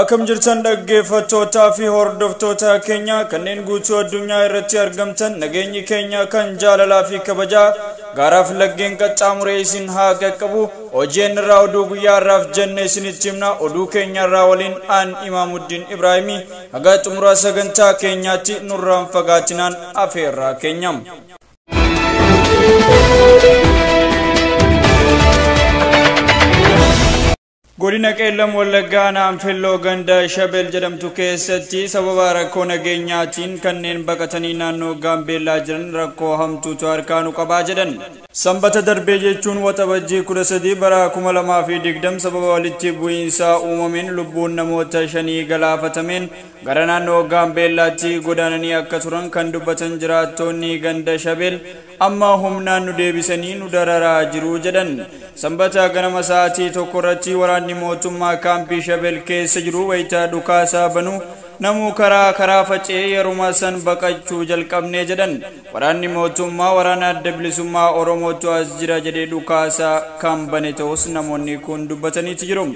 Akkam jirtan dhaggeeffattootaa fi hordoftoota keenya kanneen guutuu addunyaa irratti argamtan nageenyi keenya kan jaalalaa fi kabajaa gaaraaf laggeen qaxxaamuree isin haa qaqqabu hojeen irraa oduu guyyaa irraaf jenne isinitti himna oduu keenya irraa waliin aan imaamuddin ibraahimii haga xumuraa sagantaa keenyaatti nurraan fagaatinaan afeerraa keenya. Godina Qeellam Wallaggaa aanaa Anfilloo ganda Shabel jedhamtu keessatti sababa rakkoo nageenyaatiin kanneen baqatanii naannoo Gaambeellaa jiran rakkoo hamtuutu harkaa nu qabaa jedhan. Sanbata darbee jechuun Waxabajjii 13 bara 2020 sababa walitti bu'iinsaa uumameen lubbuun namoota shanii galaafatameen gara naannoo Gaambeellaatti godaananii akka turan kan dubbatan jiraattoonni ganda Shabel Amma humnaan nu deebisanii nu dararaa jiru, jedhan. Sambata ganama sa'aatii tokkorratti waraanni mootummaa kaampii Shabel keessa jiru wayita dhukaasa banu namuu karaa karaa faca'ee yeruma san baqachuu jalqabne jedhan. Waraanni mootummaa waraana adda bilisummaa Oromootu as jira jedhee dhukaasa kan bane ta'us namoonni kun dubbataniiti jiru.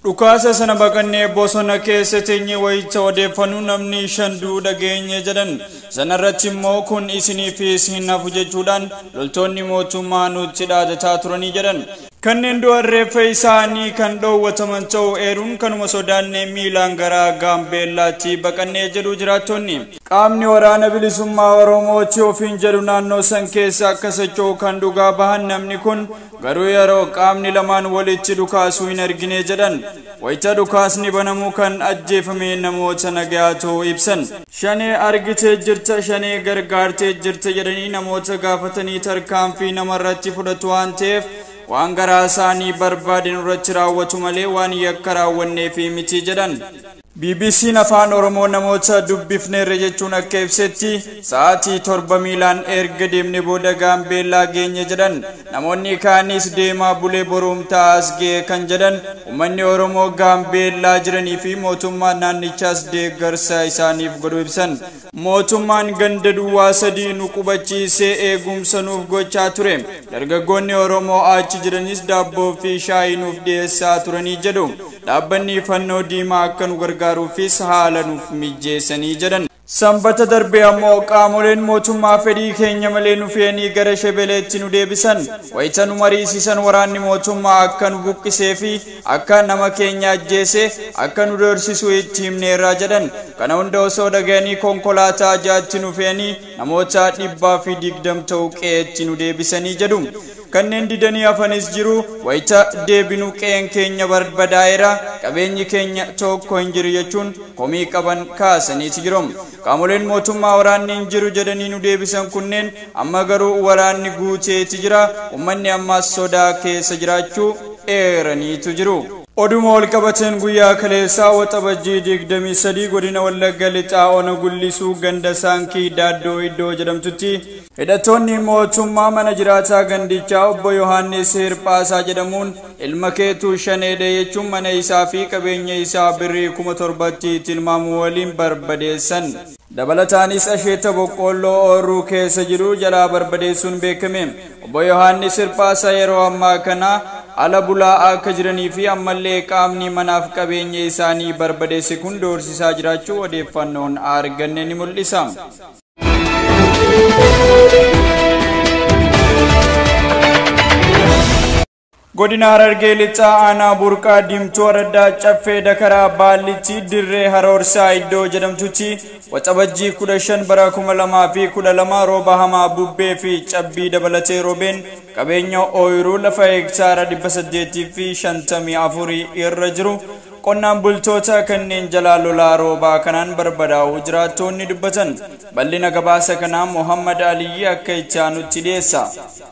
Dhukaasa sana baqannee bosona keessa teenye wayita odeeffannu namni shan du'uu dhageenye jedhan. Sanarratti immoo kun isiniifis hin hafu jechuudhaan loltoonni mootummaa nutti dhaadataa turanii jedhan. Kanneen du'an reeffa isaanii kan dhoowwataman ta'uu eeruun kanuma sodaannee miilaan gara Gaambeellaatti baqannee jedhu jiraattonni. Qaamni Waraana Bilisummaa Oromooti ofiin jedhu naannoo san keessa akka socho'u kan dhugaa bahan namni kun Garuu yeroo qaamni lamaan walitti dhukaasuu hin argine jedhan. Wayita dhukaasni banamu kan ajjeefame namoota nagayaa ta'uu ibsan. Shanee argitee jirta, shanee gargaartee jirta jedhanii namoota gaafatanii tarkaanfii namarratti fudhatu waan ta'eef waan garaa isaanii barbaade nurratti raawwatu malee waan yakka raawwanneefi miti jedhan. BBC'n Afaan Oromoo namoota dubbifneerra jechuun akka ibsetti sa'aatii torba miilaan erga deemne booda Gaambeellaa geenye jedhan. Namoonni kaanis deemaa bulee boruumtaa as ga'e kan jedhan uummanni Oromoo Gaambeellaa jiranii fi mootummaan naannichaas deeggarsa isaaniif godhu ibsan. Mootummaan ganda duwwaa sadii nu qubachiisee eegumsa nuuf gochaa ture. Dargaggoonni Oromoo achi jiranis daabboo fi shaayii nuuf dhiyeessaa turanii jedhu. Dhaabbanni fannoo diimaa akka nu gargaaruufis haala nuuf mijjeessanii jedhan. Sanbata darbe ammoo qaamoleen mootummaa fedhii keenya malee nu fe'anii gara Shebeleetti nu deebisan. Wayita nu mariisisan waraanni mootummaa akka nu buqqisee fi Akka nama keenya ajjeesee akka nu doorsisu itti himneerra jedhan. Kana hunda osoo dhagayanii konkolaataa ja'atti nu fe'anii namoota dhibbaa fi digdam ta'u qe'eetti nu deebisanii jedhu. Kanneen didanii hafanis jiru. Wayita deebinu qe'een keenya barbadaa'eera, qabeenyi keenya tokko hin jiru jechuun komii qaban kaasaniiti jiru. Qaamoleen mootummaa waraanni hin jiru jedhanii nu deebisan kunneen amma garuu waraanni guuteeti jira, ummanni ammaas sodaa keessa jiraachuu eeraniitu jiru. Oduuma walqabateen guyyaa kaleessaa Waxabajjii 23 godina Wallagga Lixaa Ona Gullisuu ganda Saankii Daaddoo iddoo jedhamtutti, Hidhattoonni mootummaa mana jiraataa gandichaa obbo Yohaannis Hirphaasaa jedhamuun ilma keetu shaneedha jechuun mana isaa fi qabeenya isaa birrii kuma torbatti tilmaamu waliin barbadeessan. Dabalataanis asheeta boqqoolloo ooyruu keessa jiru jalaa barbadeessuun beekame. Obbo Yohaannis Hirphaasaa yeroo ammaa kana ala bulaa akka jiranii fi ammallee qaamni manaaf qabeenya isaanii barbadeesse kun doorsisaa jiraachuu odeeffannoon arganne ni mul'isa. Godina Harargee Lixaa Aanaa Burqaa Diimtuu Araddaa Caffee Dakaraa Baallitti Dirree Haroorsaa Iddoo jedhamtutti Waxabajjii 15 bara 2012 rooba hamaa bubbee fi cabbii dabalatee roobeen qabeenya ooyiruu lafa hektaara 854 irra jiru Qonnaan bultoota kanneen jalaa lolaa roobaa kanaan barbadaa'uu jiraattoonni dubbatan. Bal'ina gabaasa kanaa Mohaammad Aliyyi akka itti aanutti dhiyeessa.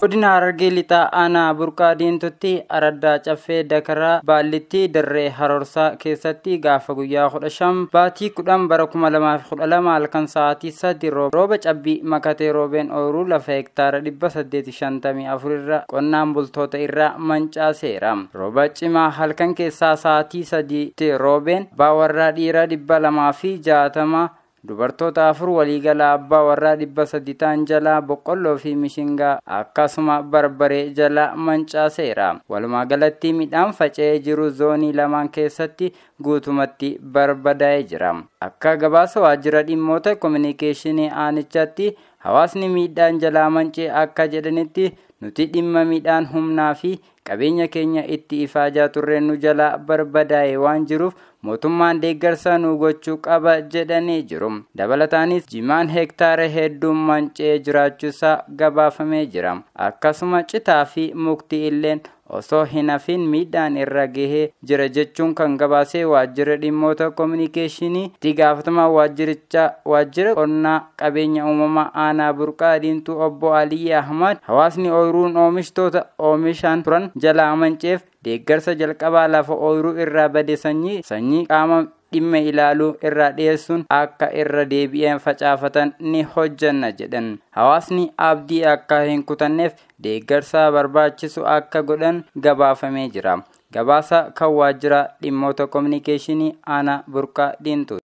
Godina Harargee Lixaa Aanaa Burqaa Diimtuutti Araddaa Caffee Dakaraa Baallitti Dirree Harorsaa keessatti gaafa guyyaa 15 baatii 10 bara 2012 halkan sa'aatii 3 rooba cabbii makatee roobeen ooyruu lafa hektaara 854 irra qonnaan bultoota irraa mancaaseera. Rooba cimaa halkan keessaa sa'aatii sadiitti roobeen abbaa warraa dhiiraa dhibba lamaa fi jaatama dubartoota afur waliigala abbaa warraa dhibba sadi ta'an jalaa boqqolloo fi mishingaa akkasuma barbaree jalaa mancaaseera. Walumaa galatti midhaan faca'ee jiru zoonii lamaan keessatti guutumatti barbadaa'ee jira. Akka gabaasa waajjira dhimmoota kominikeeshinii aanichaatti hawaasni miidhaan jalaa mancee akka jedhanitti nuti dhimma midhaan humnaa fi Qabeenya keenya itti ifaajaa turre nu jalaa barbadaa'ee waan jiruuf mootummaan deeggarsa nuu gochuu qaba jedhanii jiru. Dabalataanis jimaan hektaara hedduun manca'ee jiraachuusaa gabaafamee jira. Akkasuma citaa fi mukti illeen osoo hin hafiin miidhaan irra gahee jira jechuun kan gabaasee waajjirri dhimmoota kominikeeshinii itti gaafatamaa waajjirichaa waajjira qonnaa qabeenya uumamaa aanaa burqaa diimtuu obbo Aliyyi Ahmad hawaasni ooyiruun oomishtoota oomishaan turan jalaa amanceef deeggarsa jalqabaa lafa ooyiruu irraa bade sanyii sanyii qaama dhimma ilaaluu irraa dhiyeessuun akka irra deebi'een facaafatan ni hojjanna jedhan hawaasni abdii akka hin kutanneef deeggarsaa barbaachisu akka godhan gabaafamee jira Gabaasa kan waajjira dhimmoota kominikeeshinii aanaa burqaa diimtuu.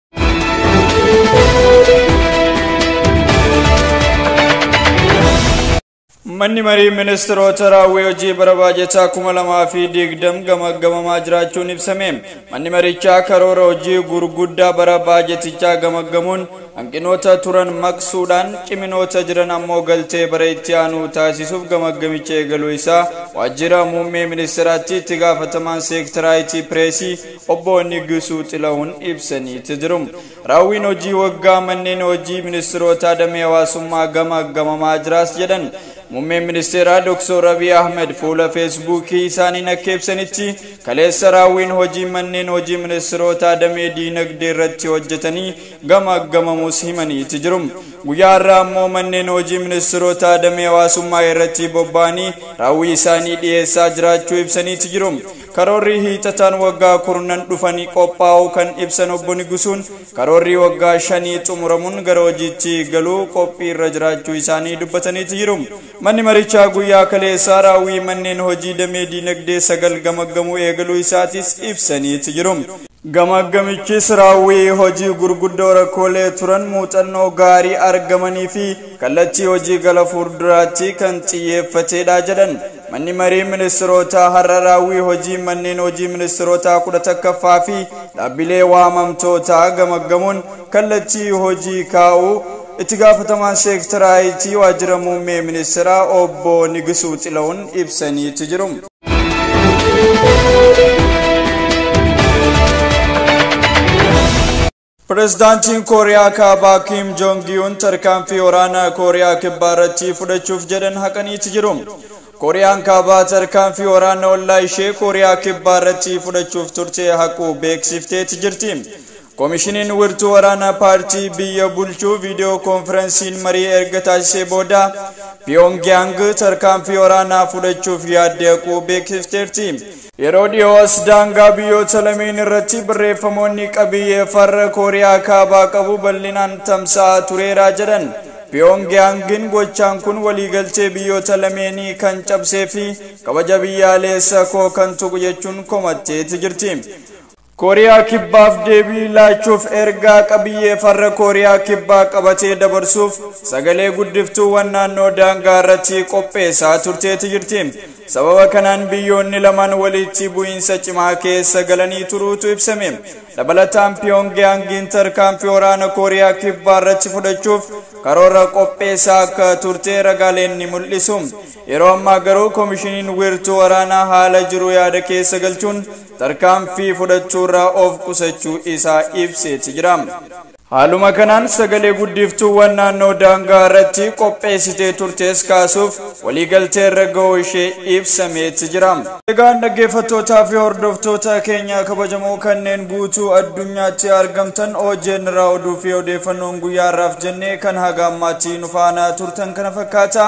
Manni marii ministeerota raawwii hojii bara baajataa kuma lamaa fi digdam gamaggamamaa jiraachuun ibsame. Manni marichaa karoora hojii gurguddaa bara baajatichaa gamaggamuun Hanqinoota turan maqsuudhaan ciminoota jiran ammoo galtee bara itti aanuu taasisuuf gamaggamicha eegaluu isaa Waajjira Muummee Ministiraatti Itti Gaafatamaan Seektaraa Itii Pireesii Obbo Nigusuu Xilahun ibsaniiti jiru. Raawwiin hojii waggaa manneen hojii ministirootaa damee hawaasummaa gamaggamamaa jiraas jedhan. Muummeen Ministeeraa Dr. Abiy Ahmed fuula Feesbuukii isaaniin akka ibsanitti kaleessa raawwiin hojii manneen hojii ministirootaa damee diinagdee irratti hojjetanii gamaaggamamuus himaniiti jiru. Guyyaa har'aa ammoo manneen hojii ministirootaa damee hawaasummaa irratti bobba'anii raawwii isaanii dhiyeessaa jiraachuu ibsaniiti jiru. Karoorri hiixataan waggaa kurnan dhufanii qophaa'uu kan ibsan obbo Nigusuun karoorri waggaa shanii xumuramuun gara hojiitti galuu qophii irra jiraachuu isaanii dubbataniiti jiru. Manni marichaa guyyaa kaleessaa raawwii manneen hojii damee diinagdee sagal gamaggamuu eegaluu isaatis ibsaniiti jiru. Gamaaggamichis raawwii hojii gurguddoo rakkoolee turan muuxannoo gaarii argamanii fi kallattii hojii gala fuulduraattii kan xiyyeeffateedha jedhan manni marii ministirootaa har'a raawwii hojii manneen hojii ministirootaa kudha takkaffaa fi dhaabbilee waamamtootaa gamaggamuun kallattii hojii kaa'uu itti gaafatamaan seektaraa IT waajjira muummee ministiraa obbo Nigisuu Xilawun ibsaniiti jiru. Pireezidaantiin Kooriyaa Kaabaa Kiim Joong Yuun tarkaanfii waraanaa Kooriyaa Kibbaa irratti fudhachuuf jedhan haqaniiti jiru. Kooriyaan Kaabaa tarkaanfii waraana ollaa ishee Kooriyaa Kibbaa irratti fudhachuuf turte haquu beeksifteeti jirti. Komishiniin wirtuu waraanaa paartii biyya bulchuu viidiyoo koonfiransiin marii erga taasisee booda Piyoongiyaang tarkaanfii waraanaa fudhachuuf yaadde haquu beeksifteerti. Yeroo dhiyoo as daangaa biyyoota lameen irratti barreeffamoonni qabiyyee farra Kooriyaa Kaabaa qabu bal'inaan tamsa'aa tureera jedhan Piyoongiyaangin gochaan kun waliigaltee biyyoota lameenii kan cabsee fi kabaja biyyaaleessa koo kan tuqu jechuun komatteeti jirti. Kooriyaa Kibbaaf deebii laachuuf ergaa qabiyyee farra Kooriyaa Kibbaa qabatee dabarsuuf sagalee guddiftuuwwan naannoo daangaa irratti qopheessaa turteeti jirti. Sababa kanaan biyyoonni lamaan walitti bu'iinsa cimaa keessa galanii turuutu ibsame. Dabalataan Piyoongiyaangiin tarkaanfii waraana Kooriyaa Kibbaa irratti fudhachuuf karoora qopheessaa akka turte ragaaleen ni mul'isu. Yeroo ammaa garuu komishiniin wiirtuu waraanaa haala jiru yaada keessa galchuun tarkaanfii fudhachuurraa of qusachuu isaa ibseeti jira. Haaluma kanaan sagalee guddiftuuwwan naannoo daangaa irratti qopheessitee turtes kaasuuf waliigaltee irra ga'uu ishee ibsameeti jira. Egaan dhaggeeffattootaa fi hordoftoota keenya kabajamoo kanneen guutuu addunyaatti argamtan OJN irraa oduu fi odeeffannoon guyyaa har'aaf jennee kan haga ammaatti nu faana turtan kana fakkaata.